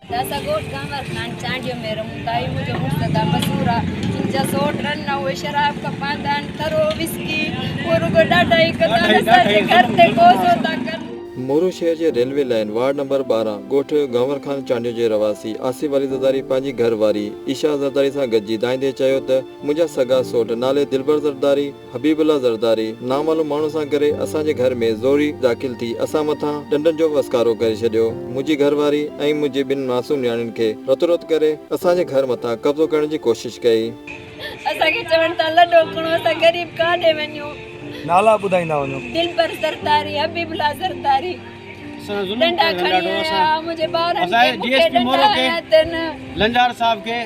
داسا ڳوٺ گهنور خان چانڊيو ۾ رهون ٿا هي منهنجو مقتدا مزور آ هن جا سوٽ رن آ اهي شراب کان پاندا آهن ترو وسڪي اهو رڳو ڏاڍا ئي ڪندا آهن اسان جي گهر تي قوضو ٿا ڪن. مورو شهر جي ريلوي لائين وارڊ نمبر ٻارهن ڳوٺ گهنور خان چانڊيو جي رهواسي آصف علي زرداري پنهنجي گهر واري عيشا زرداري سان گڏجي دائيندي چيو ته منهنجا سگا سوٽ نالي دلبر زرداري، حبيب الله زرداري نامعلوم ماڻهو سان ڪري اسان جي گهر ۾ زوري داخل ٿي اسان مٿان ڏنڊن جو وسڪارو ڪري ڇڏيو منهنجي گهر واري ۽ منهنجي ٻن معصوم نياڻين کي رتو رت ڪري اسان جي گهر مٿان قبضو ڪرڻ جي ڪوشش ڪئي. اسان کي چوڻ تان لڏو کڻو اسان غريب ڪاڏي وڃون. نالا ٻڌائيندا وڃو. دلبر زرداري حبيب الله زرداري ڏنڊا کڻي آيا منهنجي ٻارن کي مون کي ڏنڊا هنيا اٿن.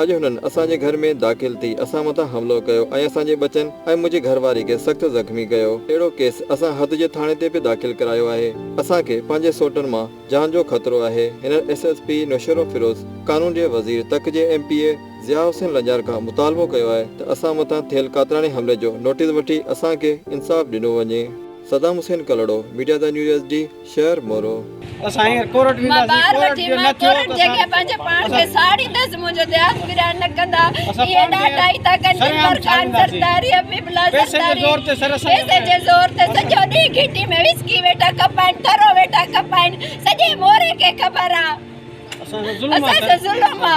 اڄ هنن اسان جي گهر ۾ داخل ٿي اسان مٿان حملو ڪيو ۽ اسان جي ٻچن ۽ منهنجي گهر واري کي سخت زخمي ڪيو. اهڙو ڪيس اسان حد جي ٿاڻي تي به داخل ڪرايو آهي. اسان کي پنهنجي سوٽن مان جان جو خطرو آهي. هنن ايس ايس پي نوشهروفيروز، قانون جي وزير تڪ جي M P A Zia Hussain Lanjar کان مطالبو ڪيو آهي ته اسان مٿان ٿيل قاتلاڻي حملي جو نوٽيس وٺي اسان کي انصاف ڏنو وڃي. Saddam Hussain Kalhoro, media the new S D, شهر مورو. مان ٻار وٺي مان ڪورٽ جي اڳيان پنهنجي پاڻ کي ساڙيندس منهنجو دياس پريان نه ڪندا اهي ڏاڍا ئي ٿا ڪن دلبر خان زرداري حبيب الله زرداري پئسي جي زور تي سڄو ڏينهن گهٽي ۾ وسڪي ويٺا کپائين ٺرو ويٺا کپائين سڄي موري کي خبر آ اسان جو ظلم آ.